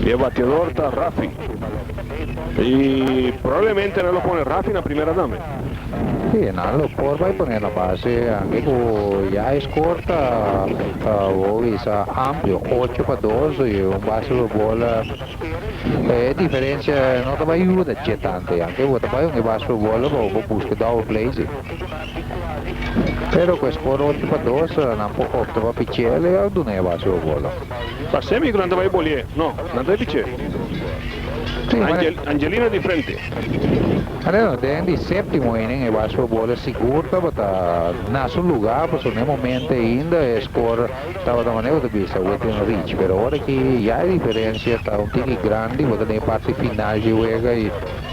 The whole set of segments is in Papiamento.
E bateador ta Rafi. Y probablemente nan lo pone Rafi na primera dame. Si, nan lo por bay pone na base ange cu ya e score ta Bowie sa amplio, ocho pa dos y un base pa bola. E diferencia no ta bay yuda dje tanto ya. Ange bo ta bay un e base pa bola bo busca double play si. Pero cu es por ocho pa dos, nan por opta pa pichel y a duna e base bo bolo. Pa semi cu nan ta bay bolié, no, nan ta bay piché. Angelina di frente. Angelina, den di septimo inning e base bo bolo sigur tabata na su luga pasobra na e momento ainda e score tabata manera cu ta bisa within reach. Pero ora aki ya e diferencia ta un tiki grandi, bo ta den e parti final di e wega y.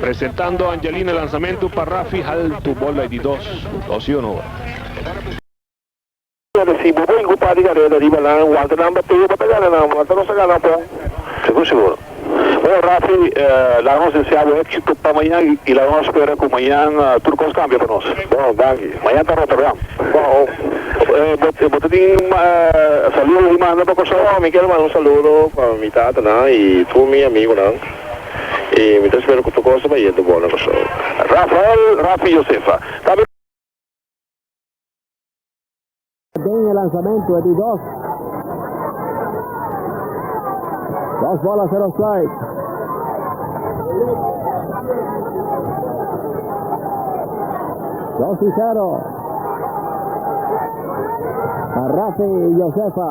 Presentando Angelina Lanzamento pa Rafi Haltu Bola di dos Dos y un hora. Nan ta sibu bo incu par di careda riba nan Walter nan bateo bo ta gana nan Walter nos ta gana pon. Sigur sigur Bo Rafi laga nos desea bo exito pa mañan y laga nos spera cu mañan tur cos cambia pa nos Bo danki Mañan ta Rotterdam Bo Bo ta tin saludo di manda pa Curaçao? Mi kier manda un saludo pa mi tata nan y tur mi amigo nan. y mi ta espera cu tur cosa bay yendo bon na Kòrsou. Rafael, Rafi Josefa, ta mi. Den e lanzamento di dos. Dos bola ser offside. Dos y zero. Rafi Josefa.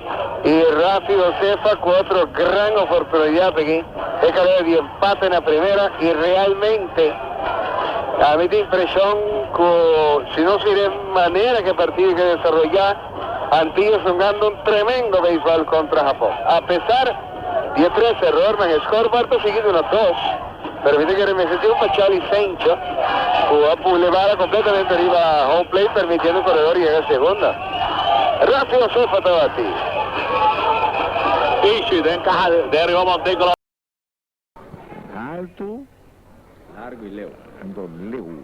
I Rafi Josefa ku otro gran oportunidat aki, e ka logra di empate na primera i realmente a mi ta impreshon ku si nos mira e manera ku e partido ta desaroyá, Antillas lo gana un tremendo beisbòl kontra Hapon. Apesar di e tres errornan, e scorebord ta sigui duna dos. Pero mi ta kere mester di un pacial licencia cu a pule bala completamente riba home plate permitiendo un corredor yega segunda. Rafi Josefa tabati. Ishi den caja den riba Monte Clot. Haltu, largu y leu. Anto leu.